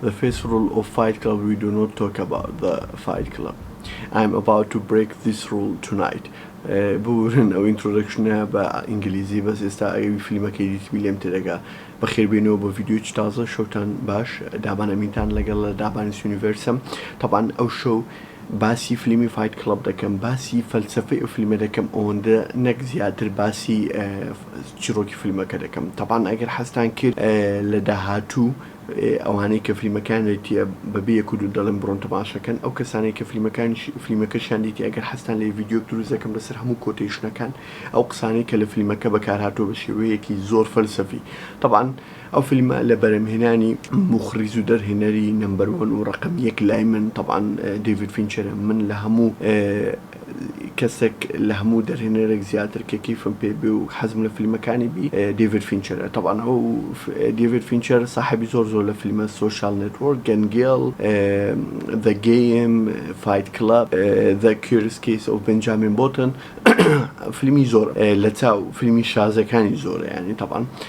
The first rule of fight club we do not talk about the fight club I am about to break this rule tonight ببورن ئەو ئینترۆدەکشنە بە ئینگلیزی بەس ئێستا ئەوی فیلمەکەی دیتبی لێم تێدەگا بەخێربێنەوە بۆ ڤیدیۆی تازە شەوتان باش دابان ئەمینتان لەگەڵ لە دابانیس یونیڤەرسم تەبان ئەو شەو باسی فیلمی فایت کڵب دەکەم باسی فەلسفەی ئەو فیلمە دەکەم ئەوەندە نەک زیاتر باسی چیرۆکی فیلمەکە دەکەم تەبان ئەگەر حەستان کرد لە داهاتوو ئەوانەی کە فلیمەکەیان دیتیە بە بێ یەک و دوو دەڵێم بڕۆن تەماشا کەن ئەو کەسانەی کە فلیمەکانیش فلیمەکەشیان دیتیە ئەگەر حەزتان لێیە ڤیدیۆک دروست دەکەم لەسەر هەموو کۆتەیشنەکان ئەو قسانەی کە لە فلیمەکە بەکار هاتووە بە شێوەیەکی زۆر فەلسەفی تەبعەن ئەو فلیمە لە بەرهەمهێنانی موخڕیز و دەرهێنەری نەمبەر وەن و ڕەقەم یەک لای من تەبعەن دەیڤید فینچەرە من لە هەموو کەسێک لە هەموو دەرهێنەرێک زیاتر کە کەیفم پێ بێ و حەزم لە فیلمەکانی بی دیڤید فینچەرە تەبعەن ئەو دیڤید فینچەر ساحێبی زۆر زۆر لە فیلمە سۆشیال نێتوۆرک گەن گێڵ زە گێم فایت کڵەب زە کیورس کیس ئۆف بێنجامین بۆتن فیلمی زۆرە لە چاو فیلمی شازەکانی زۆرە یانی تەبعەن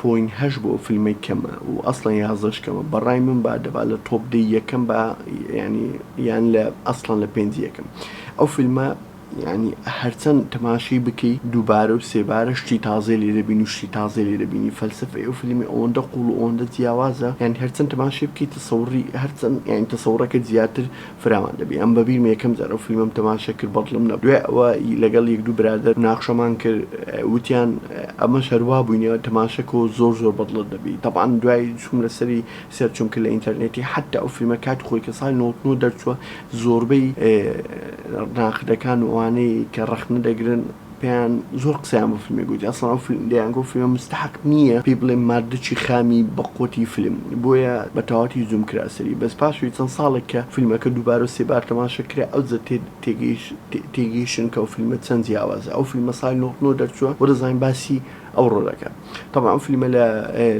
پۆینت هەشت بۆ فلمێک کەمە و ئەسڵەن یازدەش کەمە بەڕای من با دەبا لە تۆپ دەی یەکەم با یانی یان لە ئەسڵەن لە پێنج یەکەم ئەو فلمە یانی هەرچەن تەماشەی بکەی دووبارە و سێبارە شتی تازەی لێ دەبین و شتی تازەی لێ دەبینی فەلسەفەی ئەو فلمی ئەوەندە قوڵ و ئەوەندە جیاوازە یانی هەرچەن تەماشەی بکەی تەسەوڕی هەرچەن یانی تەسەوڕەکەت زیاتر فراوان دەبی ئەم بەبیرمە یەکەم جار ئەو فیلمەم تەماشە کرد بەدڵم نەبو دوای ئەوە ی لەگەڵ یەک دوو برادەر مناقشەمان کرد وتیان ئەمەش هەر وا بوینە تەماشە کۆ زۆر زۆر بەدڵت دەبی تەبعەن دوای چوم لەسەری سێر چوم کرد لە ئینتەرنێتی حەتتا ئەو فیلمە کاتی خۆی کە ساڵی نەوەت و نۆ دەرچوە زۆربەی ناقدەکان و ئەوانەی کە ڕەخنە دەگرن پێیان زۆر قسەیان بۆ فیلمێک گوتی ئەسڵەن ئەو فیلم دەیانگوت ئەو فیلمە مستەحەق نییە پێی بڵێن ماردچی خامی بە قوتی فیلم بۆیە بە تەواوەتی زووم کرا سەری بەس پاشوی چەند ساڵێک کە فیلمەکە دووبارە و سێبار تەماشە کرا ئەوجە تێگەیش تێگەیشتن کە ئەو فیلمە چەند جیاوازە ئەو فیلمە ساڵی نەوەد و نۆ دەرچووە بۆ دەزانین باسی ئەوڕۆ دەکا تەبعەن ئەو فیلمە لە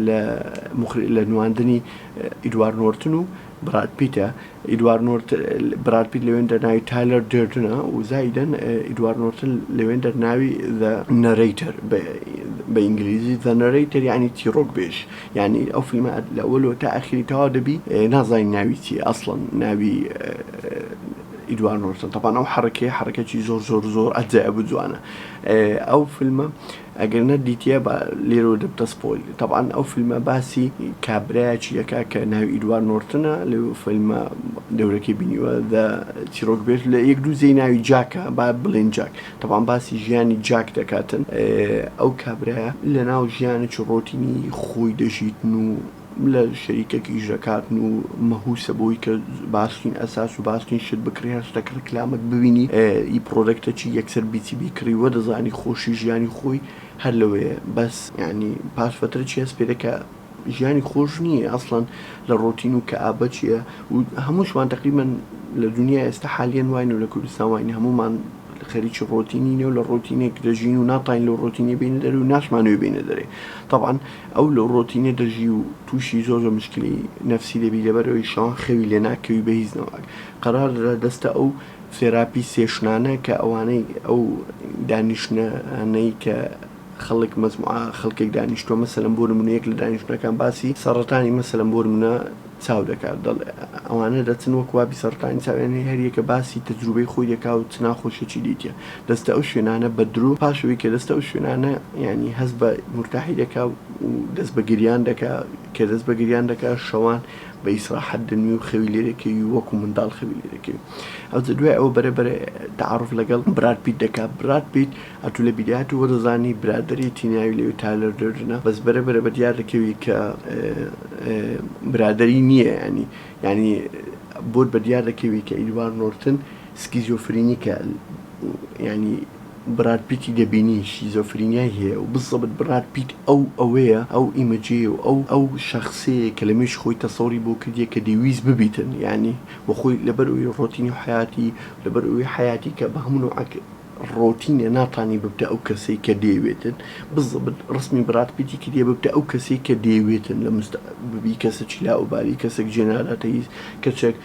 لە مخ لە نواندنی ئیدوارد نۆرتن و براد پیتە ئیدوارد نۆرتن، براد پیت لەوێندەر ناوی تایلەر دێردنە و زایدەن ئیدوارد نۆرتن لەوێندەر ناوی The Narrator، بە ئینگلیزی، The Narrator، یانی چیڕۆکبێژ، یانی ئەو فیلمە لە ئەوەلەوە تا ئاخیری تەواو دەبی نازانی ناوی چیە ئەسڵەن ناوی ئیدوارد نۆرتن تەبعەن ئەو حەڕەکەیە حەڕەکەکی زۆر زۆر زۆر ئەجایەب و جوانە ئەو فیلمە ئەگەر نە دیتیە با لێرەوە دەبتە سپۆیل. تەبعەن ئەو فیلمە باسی کابرایەکی دەکا کە ناوی ئیدوارد نۆرتنە لەو فیلمە دەورەکەی بینیوە The چیرۆک بێژ لە یەک دوو جێی ناوی جاکە با بڵێین جاک تەبعەن باسی ژیانی جاک دەکاتن ئەو کابرایە لەناو ژیانێکی ڕۆتینی خۆی دەژیتن و لە شەریکەکی ژەکاتن و مەهوسە بۆی کە باشترین ئەساس و باشترین شت بکڕی هەر شتەک ڕیکلامەک ببینی ئی پڕۆدەکتە چی یەکسەر بیچی بیکڕی وە دەزانی خۆشی ژیانی خۆی هەر لەوێیە بەس یانی پاش فەترە چی هەست پێدەکا ژیانی خۆش نییە ئەسڵەن لە ڕۆتین و کەئابە چیە و هەمووشمان تەقریبەن لە دونیای ئێستا حالیەن واین و لە کوردستان واین هەموومان خەریکی ڕۆتینینە و لە ڕۆتینێک دەژین و ناتوانین لەو ڕۆتینە بێینە دەرێ و ناشمانەوێ بێینە دەرێ تەبعەن ئەو لە ڕۆتینە دەژی و توشی زۆر زۆر مشکلی نەفسی دەبی لەبەرئەوەی شەوان خەوی لێ ناکەوی بەهیچ نەواک قەرار درا دەستە ئەو سێراپی سێشنانە کە ئەوانەی ئەو دانیشتنانەی کە خەڵک مەجموعە خەڵکێک دانیشتوە مەسەلەن بۆ نمونە یەک لە دانیشتنەکان باسی سەڕەتانی مەسەلەن بۆ نمونە چاو دەکات دەڵێ ئەوانە دەچن وەک وا بیسەڕکانی چاویان هەیە هەر یەکە باسی تەجروبەی خۆی دەکا و چ ناخۆشیەکی دیتیە دەچتە ئەو شوێنانە بە درۆ پاش ئەوەی کە دەچتە ئەو شوێنانە یانی هەست بە مورتاحی دەکا و دەست بە گریان دەکا کە دەست بە گریان دەکا شەوان بە ئیسراحەت دەنوێ و خەوی لێ دەکەوی و وەکو منداڵ خەوی لێ دەکەوی ئەوجە دوای ئەوە بەرە بەرە تەعاروف لەگەڵ براد پیت دەکا براد پیت ئەتو لە بیری هاتوو وەدەزانی برادەریتی ناوی لەوێ تالەر دەردنە بەس بەرە بەرە بەدیار دەکەوی کە برادەری نییە ینی ینی بۆت بەدیار دەکەوی کە ئیدوار نۆرتن سکیزۆفرینی کە ینی براد پیتی دەبینی شیزۆفرینیای هەیە و بزەبت براد پیت ئەو ئەوەیە ئەو ئیمەجێ و ئەو ئەو شخصەیە کە لە مێش خۆی تەسەوری بۆ کردیە کە دەویست ببیتن ینی وەخۆی لەبەر ئەوی ڕۆتینی حیاتی لەبەر ئەوی حیاتی کە بە هەموو ڕۆتینە ناتانی ببتە ئەو کەسەی کە دەیەوێتن بزبت ڕسمی براد پیتی کریە ببتە ئەو کەسەی کە دەیەوێتن لە مست ببی کەسە چی لاو بالی کەسەک جێ ناداتە هیچ کەچەک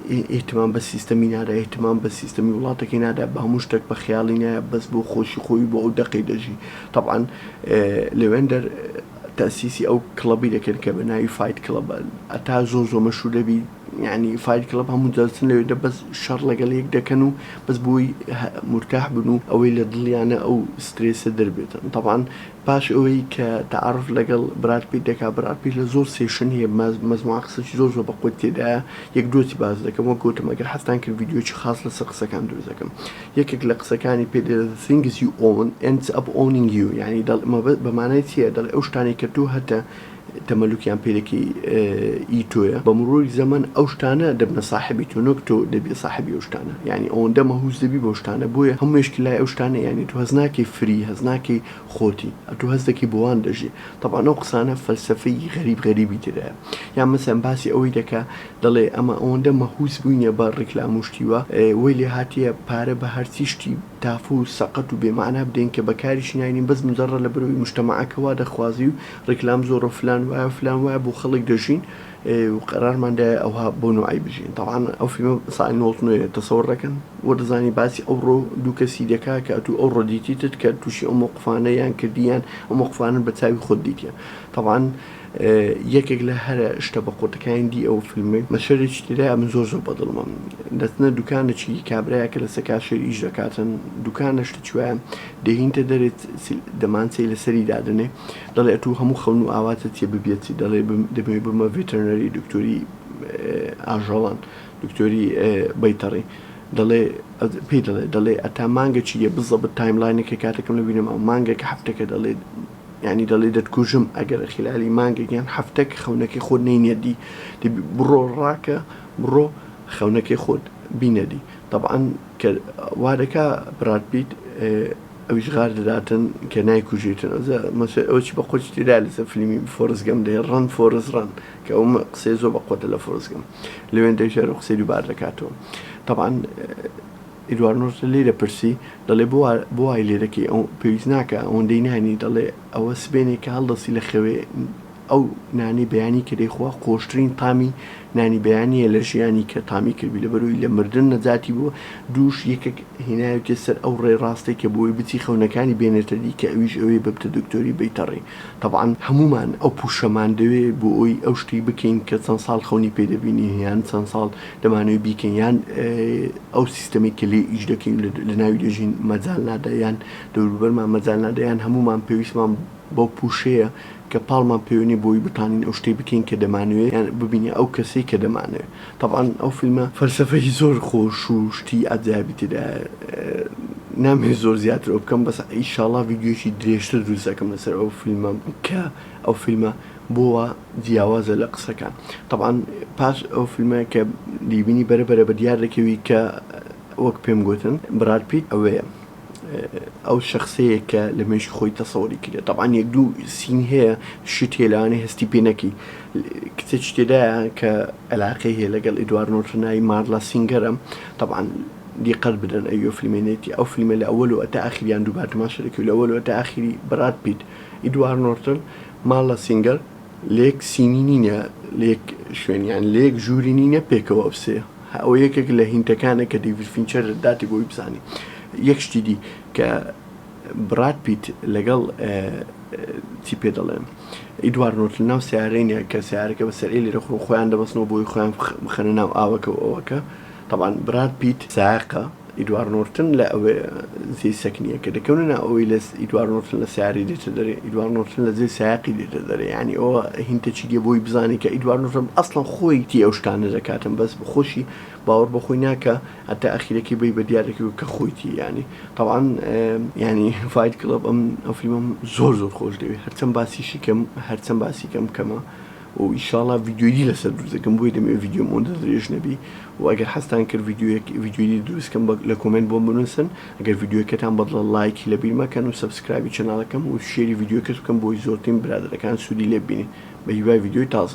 ئیهتمام بە سیستەمی نادا ئیهتمام بە سیستەمی وڵاتەکەی نادا بە هەموو شتەک بە خەیاڵی نایە بەس بۆ خۆشی خۆی بۆ ئەو دەقەی دەژی تەبعەن لەوێن دەر تەئسیسی ئەو کڵەبی دەکەن کە بە ناوی فایت کڵەبە ئەتا زۆ زۆ مەشهور دەبی. یانی فایت کڵەب هەموو دەچن لەوێ دە بەس شەڕ لەگەڵ یەک دەکەن و بەس بۆی مورتاح بن و ئەوەی لە دڵیانە ئەو سترێسە دەربێتن تەبعەن پاش ئەوەی کە تەعاروف لەگەڵ براد پیت دەکا براد پیت لە زۆر سێشن هەیە مەجموعە قسەی زۆر زۆر بە قوت تێدایە یەک دوتی باس دەکەم وەک گوتم ئەگەر حەزتان کرد ڤیدیۆیەکی خاس لەسەر قسەکان دروست دەکەم یەکێک لە قسەکانی پێت ئێز دە ثینگز یو ئۆون ئێندز ئەپ ئۆونینگ یو یانی دەڵێ مەبە بە مانای چیە دەڵێ ئەو شتانەی کە تۆ هەتە تەمەلوکیان پێلکی ئی تۆیە بە مڕووی زەمەن ئەو شتانە دەبنە ساحێبی تۆ نۆک تۆ دەبی ساحێبی ئەو شتانە یانی ئەوەندە مەهووس دەبی بۆ شتانە بۆیە هەموو مێشکی لای ئەو شتانە یانی تۆ هەز ناکەی فری هەز ناکەی خۆتی ئەتوو هەز دەکەی بۆوان دەژی تەبعەن ئەو قسانە فەلسەفەی غەریب غەریبی تێدایە یان مەسەن باسی ئەوەی دەکا دەڵێ ئەمە ئەوەندە مەهووس بووینە بە ڕیکلام و شتی وا وەی لێ هاتیە پارە بە هەرچی شتی تافە و سەقەت و بێ مەعنا بدەین کە بە کاریشی ناینین بەس مجەڕە لەبەر ئەوی مشتەمەعەکە وا دەخوازی و ڕیکلام زۆرە فلان وایە فلان وایە بۆ خەڵک دەژین و قەرارمان دایە ئەوها بۆ نوعی بژین تاوان ئەو فیلمە سای نۆڵت نوێ تەسەوەر دەکەن و دەزانی باسی ئەو ڕۆ دوو کەسی دەکا کە ئەتوو ئەو ڕۆدیتیتت کە تووشی ئەو مۆقفانە یان کردیان ئەو مۆقفانن بە چاوی خۆت دیتە تاوان یەکێک لە هەرە شتە بە قوتەکانی دی ئەو فیلمی مەشەرێکی تێدای من زۆر زۆر بەدڵمە دەتنە دوکانێکی کابراە کە لە سەکاشێر ئیش دەکاتن دوکانە شتە چوایە دەهینتە دەرێت دەمانچەی لەسەری دادنێ دەڵێ ئەتوو هەموو خەون و ئاواتت چیە ببیەچی دەڵێ دەمەوێ ببمە ڤێتەرنەری دکتۆری ئاژەڵان دکتۆری بەیتەڕی دەڵێ پێی دەڵێ دەڵێ ئەتا مانگە چیە بزەبت تایملاینەکە کاتەکەم لە بینەما مانگەکە هەفتەکە دەڵێ ینی دەڵێ دەتکوژم ئەگەر خلالی مانگەگەیان هەفتەک خەونەکەی خۆ نینەدی بڕۆ ڕاکە بڕۆ خەونەکەی خۆت بینەدی طبعاان کە وادەکا برات پیت ئەویش غار دەداتن کە نایکوژیتن ئەوجا مەسۆی ئەوە چی بەقوەتی تێدایە لەسەر فلیمی فۆرست گەم دەی ڕەن فۆرست ڕەن کە ئەوم قسەی زۆر بەقوەتە لە فۆرست گەم لەوێندەی ژارو قسەی دووبار دەکاتەوە تەبعەن ئیدوار نۆرتن لێی دەپرسی دەڵێ بۆ وا بۆ وای لێ دەکەی ئەو پێویست ناکا ئەوەندەی نانی دەڵێ ئەوە سبێنێکە هەڵدەسی لە خەوێ ئەو نانی بەیانی کە دەیخوا خۆشترین تامی نانی بەیانیە لە ژیانی کە تامی کردبی لەبەروی لە مردن نەجاتی بووە دووش یەکێک هیناویتە سەر ئەو ڕێ ڕاستەی کە بۆی بچی خەونەکانی بێنێتە دی کە ئەویش ئەوەی ببتە دکتۆری بیتە ڕێ تەبعەن هەموومان ئەو پوشەمان دەوێ بۆ ئەوی ئەو شتەی بکەین کە چەند ساڵ خەونی پێ دەبینی یان چەند ساڵ دەمانەوی بیکەین یان ئەو سیستەمی کە لێ ئیش دەکەین لە ناوی دەژین مەجال نادا یان دەوروبەرمان مەجال نادا یان هەموومان پێویستمان بەو پوشەیە کە پاڵمان پێوەنیە بۆی بتانین ئەو شتەی بکەین کە دەمانەوێ یان ببینە ئەو کەسەی کە دەمانەوێ تەبعەن ئەو فیلمە فەلسەفەی زۆر خۆش و شتی عەجایبی تێدایە نامەوێ زۆر زیاتر ئەوبکەم بەس ئیشاڵا ڤیدیۆیەکی درێژتر دروست ئەکەم لەسەر ئەو فیلمە کە ئەو فیلمە بۆ وا جیاوازە لە قسەکان تەبعەن پاش ئەو فیلمە کە دەیبینی بەرە بەرە بەدیار دەکەوی کە وەک پێم گۆتن براد پیت ئەوەیە. ئەو شەخسەیە کە لە مێشکی خۆی تەسەوری کردێت تەبان یەک دوو سین هەیە شتێ لەوانێ هەستی پێ نەکی کچە شتێدایە کە علاقەی هەیە لەگەڵ ئیدوار نۆرتنایی مارلا سینگەرم تەبان دیقەت بدەن ئەوە فیلمێنێتی ئەو فیلمە لە ئەوەل و ئەتا ئاخریان دووبار تماشەێکی لە ئەوەل ئەتا ئاخری بڕات پیت ئیدوار نۆرتن مارلا سینگەر لێک سینی نینە لێک شوێنیان لێک ژووری نینە پێکەوە ئەوسەیە ئەوە یەکێک لە هینتەکانە کە دەیڤید فینچەر داتی بۆی بزانی یەک شتی دی کە براد پیت لەگەڵ چی پێ دەڵێن ئیدوار نۆرت لە ناو سیارەینە کە سیارەکە بە سەرعی لێرە خۆ خۆیان دەبستنەوە بۆی خۆیان بخەنە ناو ئاوەکە و ئەوەکە طبعا براد پیت ساقە ئیدوارد نۆرتن لە ئەوێ زێی سەکنیە کە دەکەونە ناو ئەوەی لە ئیدوارد نۆرتن لە سەیارەی دێتە دەرێ ئیدوارد نۆرتن لە زێی سایەقی دێتە دەرێ یانی ئەوە هینتە چی دێ بۆی بزانێ کە ئیدوارد نۆرتن ئەسڵەن خۆی تی ئەو شتانە دەکاتن بەس خۆشی باوەڕ بە خۆی ناکا هەتا ئەخیرەکەی بەی بە دیار دەکەوێ کە خۆی تی یانی تەوعەن یانی فایت کڵەب ئەم ئەو فیلمەم زۆر زۆر خۆش دەوێ هەرچەن باسیشی کەم هەرچەن باسی کەم کەمە. و ئیشاڵا ڤیدیۆی دی لەسەر دروست دەکەم بۆیە دەمەوێت ڤیدیۆم ئەوەندە درێژ نەبی و ئەگەر حەزتان کرد ڤیدیۆیەک ڤیدیۆی دی دروست کەم لە کۆمێنت بۆم بنووسن ئەگەر ڤیدیۆکەتان بەدڵە لایکی لەبیر مەکەن و سەبسکرایبی چەناڵەکەم و شێری ڤیدیۆکەت بکەن بۆی زۆرترین برادەرەکان سوودی لێ ببینن بەهیوای ڤیدیۆی تازە.